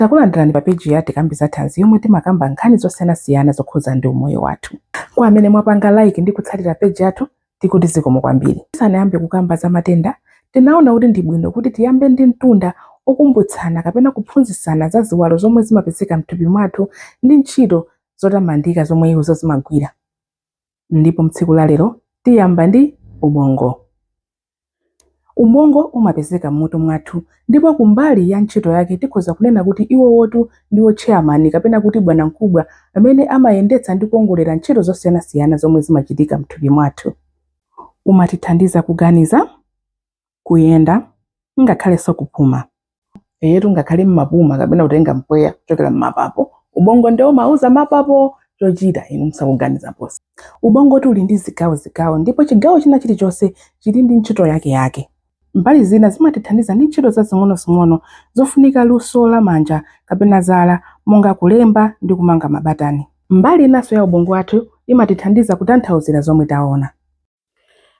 Takulandirani pa page ya Tikambe za Thanzi yomwe timakamba nkhani zosiyanasiyana zokhudzana ndi umoyo wathu. Kwa amene mwapanga like ndi kutsatira page yathu, tikuti zikomo kwambiri. Tisanayambe kukamba za matenda, tinaona kuti ndi bwino kuti tiyambe ndi mtunda okumbutsana kapena kuphunzitsana za ziwalo zomwe zimapezeka m'thupi mwathu ndi ntchito zotamandika zomwe izo zimagwira. Ndipo mtsiku la lero tiyamba ndi ubongo. Ubongo umapezeka m'mutu mwathu, ndipo ku mbali ya ntchito yake tikhoza kunena kuti iwowotu ndiwo tcheyamani kapena kuti bwanamkubwa amene amayendetsa ndi kuwongolera ntchito zosiyanasiyana zomwe zimachitika m'thupi mwathu. Umatithandiza kuganiza, kuyenda, ngakhalenso kupuma. eyetu ngakhale mmapuma kapena kutenga mpweya kuchokera mmapapo ubongo nde umauza mapapo chochita inu musakuganiza ponse ubongotu uli ndi zigawo zigawo ndipo chigawo china chilichonse chili ndi ntchito yake yake mbali zina zimatithandiza ndi ntchito zazing'onozing'ono zofunika luso la manja kapena zala monga kulemba ndi kumanga mabatani mbali inanso ya ubongo wathu imatithandiza kutanthauzira zomwe taona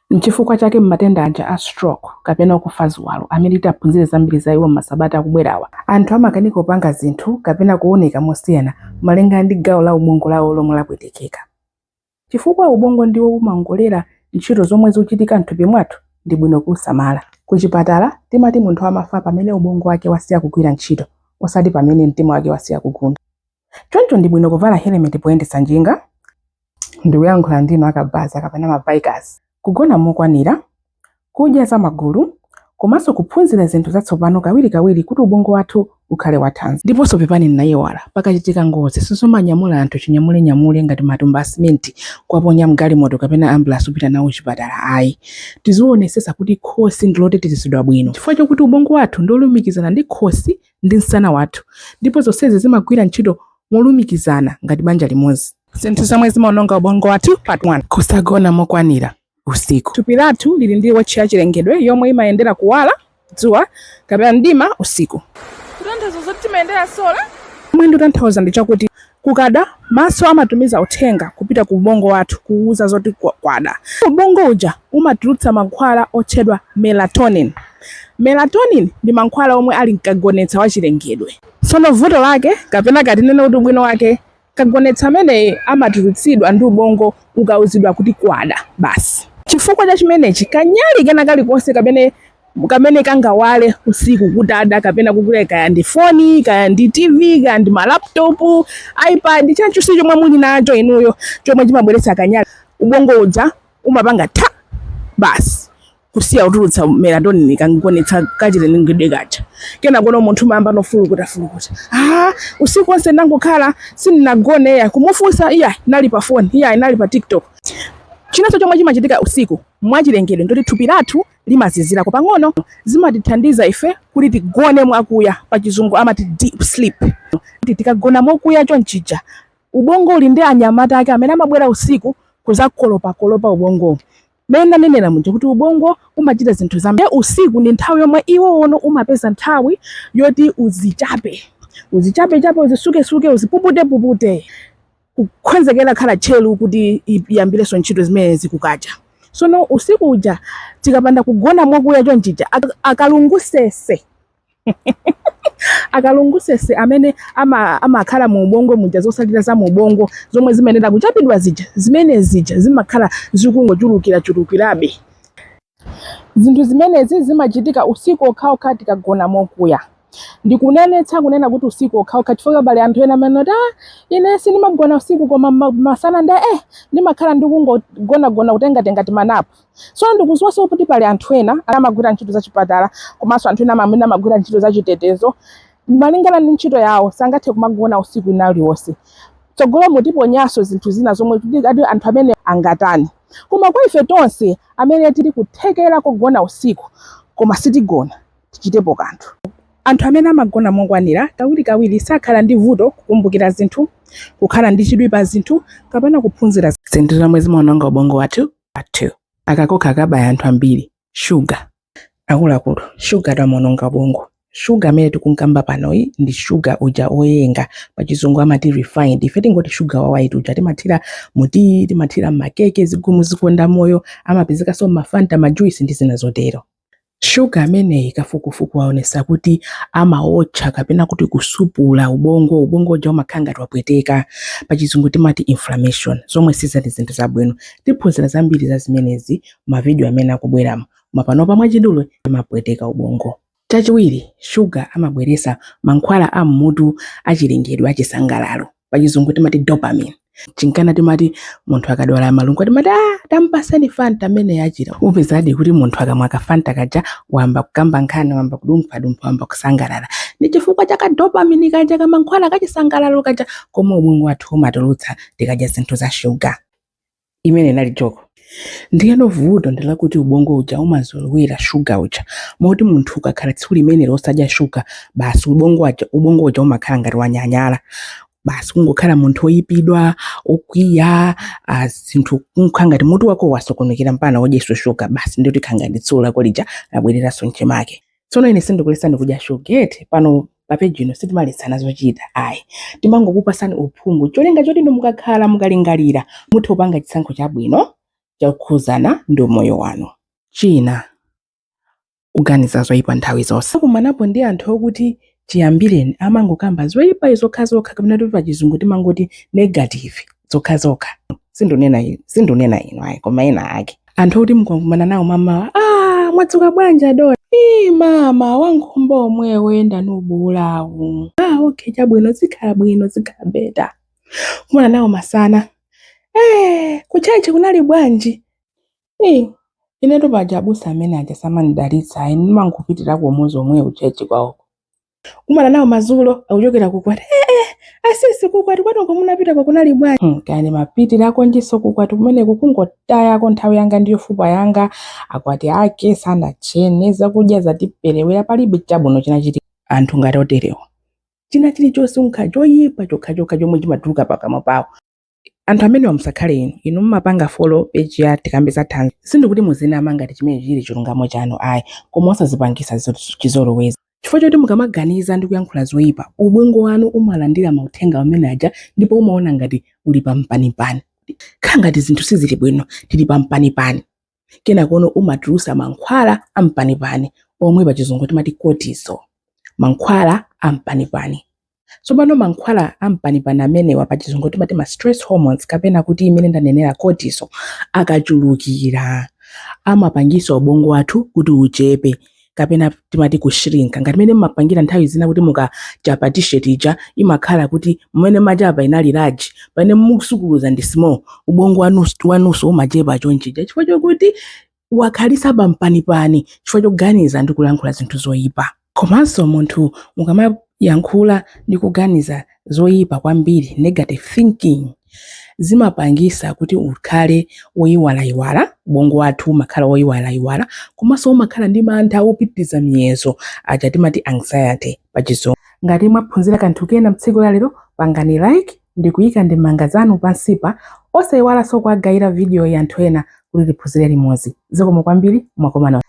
Nchifukwa chake m'matenda aja a stroke kapena kufa ziwalo amene tiphunzire zambiri za iwo m'masabata akubwerawa, anthu amakanika kupanga zinthu kapena kuoneka mosiyana malingana ndi gawo la ubongo lawo lomwe lapwetekeka. Chifukwa ubongo ndiwo umaongolera ntchito zomwe zikuchitika m'thupi mwathu, ndi bwino kuusamala. Kuchipatala, timati munthu amafa pamene ubongo wake wasiya kugwira ntchito, osati pamene mtima wake wasiya kugunda. Choncho ndi bwino kuvala helemeti poyendetsa njinga. Ndikuyankhula ndinu akabaza kapena ma bikers. Kugona mokwanira, kudya zamagulu, komanso kuphunzira zinthu zatsopano kawirikawiri kuti ubongo wathu ukhale wathanzi. Ndiponso pepani ndinaiwala, pakachitika ngozi sizomanyamula anthu chinyamulenyamule ngati matumba a simenti kuwaponya m'galimoto kapena ambulansi kupita nawo kuchipatala ayi. Tizionetsetsa kuti khosi ndi lotetezedwa bwino chifukwa chakuti ubongo wathu ndi wolumikizana ndi khosi ndi msana wathu, ndipo zonsezi zimagwira ntchito molumikizana ngati banja limodzi. Zinthu zomwe zimaononga ubongo wathu part 1 kusagona mokwanira usiku. Thupi lathu lili ndi wotchi ya chilengedwe yomwe imayendera kuwala dzuwa kapena mdima usiku. Kutanthauza zoti timayendera sola. Zomwe ndikutanthauza ndi chakuti Kukada, maso amatumiza uthenga kupita ku ubongo wathu kuuza zoti kwada. Ubongo uja umatulutsa mankhwala otchedwa melatonin. Melatonin ndi mankhwala omwe ali mkagonetsa wa chilengedwe. Tsono vuto lake kapena ka tinene kuti ubwino wake, kagonetsa ameneyi amatulutsidwa ndi ubongo ukauzidwa kuti kwada basi. Chifukwa cha chimenechi, kanyali kena kalikonse kamene kamene kangawale usiku kutada kapena kugula kaya ndi foni kaya ndi tv kaya ndi malaptopu ipad chanchonse chomwe muli nacho inuyo chomwe chimabweretsa kanyali ubongo uja umapanga basi kusiya kutulutsa melatonin kogonetsa kachilengedwe kaja kenakono munthu amayamba nofulukuta fulukuta ah, usiku onse ndangokhala sindinagone iya kumufunsa iyayi ndinali pa foni iyayi ndinali pa tiktok chinanso chomwe chimachitika usiku mwachilengedwe ndoti thupi lathu limazizirako pang'ono zimatithandiza ife kuti tigone mwakuya pa chizungu amati deep sleep Ti- tikagona mokuya chonchija ubongo uli ndi anyamata ake amene amabwera usiku kuzakolopakolopa ubongowo mmene ndanenera muja kuti ubongo umachita zinthu zambiri ndiye usiku ndi nthawi yomwe iwo ono umapeza nthawi yoti uzichape uzichapechape uzisukesuke uzipuputepupute kukonzekera khala tcheru kuti i- iyambirenso ntchito zimenezi kukacha sono usiku uja tikapanda kugona mwakuya chonchija ak- akalungusese akalungusese amene ama- amakhala mu ubongo muja zosalira za mu ubongo zomwe zimayenera kuchapidwa zija zimene zija zimakhala zikungochulukira chulukirabe Zinthu zimenezi zimachitika usiku okhaokha tikagona mokuya. Ndikunenetsa kunena kuti usiku okhaokha chifukwa pali anthu ena amati, ah, ine sindimagona usiku koma ma- masana ndi eh ndimakhala ndikungogonagona kutengatenga timanapu. Tsono ndikudziwanso kuti pali anthu ena amagwira ntchito zachipatala komanso anthu ena mwina amagwira ntchito zachitetezo. Malingana ndi ntchito yawo sangathe kumagona usiku wina uliwonse. Mtsogolomu tiponyanso zinthu zina zomwe kuti anthu amene angatani. Koma kwa ife tonse amene tili kuthekera kogona usiku koma sitigona, tichitepo kanthu. Anthu amene amagona mokwanira kawirikawiri sakhala ndi vuto kukumbukira zinthu, kukhala ndi chidwi pa zinthu kapena kuphunzira. Zinthu zomwe zimaononga ubongo wathu. Aka kokha kabaya anthu ambiri. Shuga. Akuluakulu, shugatu amaononga ubongo. Shuga amene tikunkamba panoyi ndi shuga uja oyenga, pachizungu amati refined. Ife tingoti shuga wa white uja timathira mu tiyi, timathira m'makeke, zigumu zikondamoyo, amapezekanso m'mafanta, majuisi ndi zina zotero. Shuga ameneyi kafukufuku waonetsa kuti amaotcha kapena kuti kusupula ubongo, ubongo uja umakhala ngati wapweteka, pachizungu timati inflammation, zomwe sizili zinthu zabwino. Tiphunzira zambiri za zimenezi mavidiyo amene akubweramo, koma panopa mwachidule amapweteka ubongo. Chachiwiri, shuga amabweretsa mankhwala a m'mutu achilengedwe achisangalalo, pachizungu timati dopamine. Chinkana timati munthu akadwala malungo timati ah, tampatseni fanta ameneyo achira. Upezadi kuti munthu akamwa ka fanta kaja wayamba kukamba nkhani, wayamba kudumphadumpha, wayamba kusangalala. Ndi chifukwa cha ka dopamine kaja kamankhwala kachisangalalo kaja komwe ubongo wathu umatulutsa tikadya zinthu za shuga. imene inali joko ndiyeno vuto ndi lakuti ubongo uja umazolowera shuga uja moti munthu ukakhala tsiku limenelo osadya shuga basi ubo- ubongo uja umakhala ngati wanyanyala basi kungokhala munthu oyipidwa okwiya ah, zinthu kukhala ngati mutu wako wasokonekera mpana udyeso shuga basi ndikuti khangati tsiku lako lija labwereranso mchimake tsono ine sindikuletsani kudya shugatu pano papeji ino sitimaletsana zochita ayi timangokupasani uphungu cholinga choti inu mukakhala mukalingalira muthe kupanga chisankho chabwino chokhuzana ndi umoyo wanu china kuganiza zoyipa nthawi zonse munakumanapo ndi anthu okuti chiyambireni amangokamba zoyipayi zokhazokha kapena kuti pachizungu timangoti negative zokhazokha sindikunena inu sindikunena inu ayi koma ena ake anthu oti mukakumana nawo mamawa ah mwadzuka bwanji adona ii mama wankhumba omwe woyenda nubuulawu ah okay chabwino zikhala bwino zikhala beta kumana nawo masana eh kutchalitchi kunali bwanji Ii, inetu paja abusa amene aja samandidalitsa ayi ndimangopitira umodzi womwewo kutchalitchi kwawoko. kumana nawo madzulo akuchokera kukwati ee asisi kukwati kwathu uko munapitako kunali bwanji hmm, kaya ndimapitirako njiso kukwati kumeneko kungotayako nthawi yanga ndi yofupa yanga akwati ake sanatchene zakudya zatiperewera palibe chabwino chinachitika anthu ngati oterewa china chilichonse nkhani choyipa chokhachokha chomwe chimatuluka pakamwa pawo anthu amenewa musakhale inu inu mumapanga folo peji ya tikambe za thanzi sindikuti muzinama ngati chimene chili chilungamo chanu ayi koma osazipangisa chizolowezi chifukwa chokuti mukamaganiza ndi kuyankhula zoyipa ubongo wanu umalandira mauthenga amene aja ndipo umaona ngati uli pampanipani khala ngati zinthu sizili bwino tili pampanipani kenakono umatulusa mankhwala ampanipani omwe pachizungu timati cortisol mankhwala ampanipani tsopano mankhwala ampanipani amenewa pachizungu timati ma stress hormones kapena kuti imene ndanenera cortisol akachulukira amapangisa ubongo wathu kuti uchepe kapena timati kushrinka ngati mmene mumapangira nthawi zina kuti mukachapa t-shirt ija imakhala kuti mmene machapa inali large pamene musukuluza ndi small ubongo wanunso umachepa chonchija chifukwa chokuti wakhalisa pampanipani chifukwa choganiza ndi kulankhula zinthu zoyipa komanso munthu ukamayankhula ndi kuganiza zoyipa kwambiri, negative thinking, zimapangisa kuti ukhale woyiwalayiwala, ubongo wathu umakhala woyiwalayiwala komanso umakhala ndi mantha opitiriza miyezo aja timati anxiety pa chizungu. Ngati mwaphunzira kanthu kena mu tsiku la lero, pangani like ndi kuyika ndemanga zanu pansipa, osayiwalanso kuwagayira vidiyoyi anthu ena kuti tiphunzire limodzi. Zikomo kwambiri, mwakoma nonse.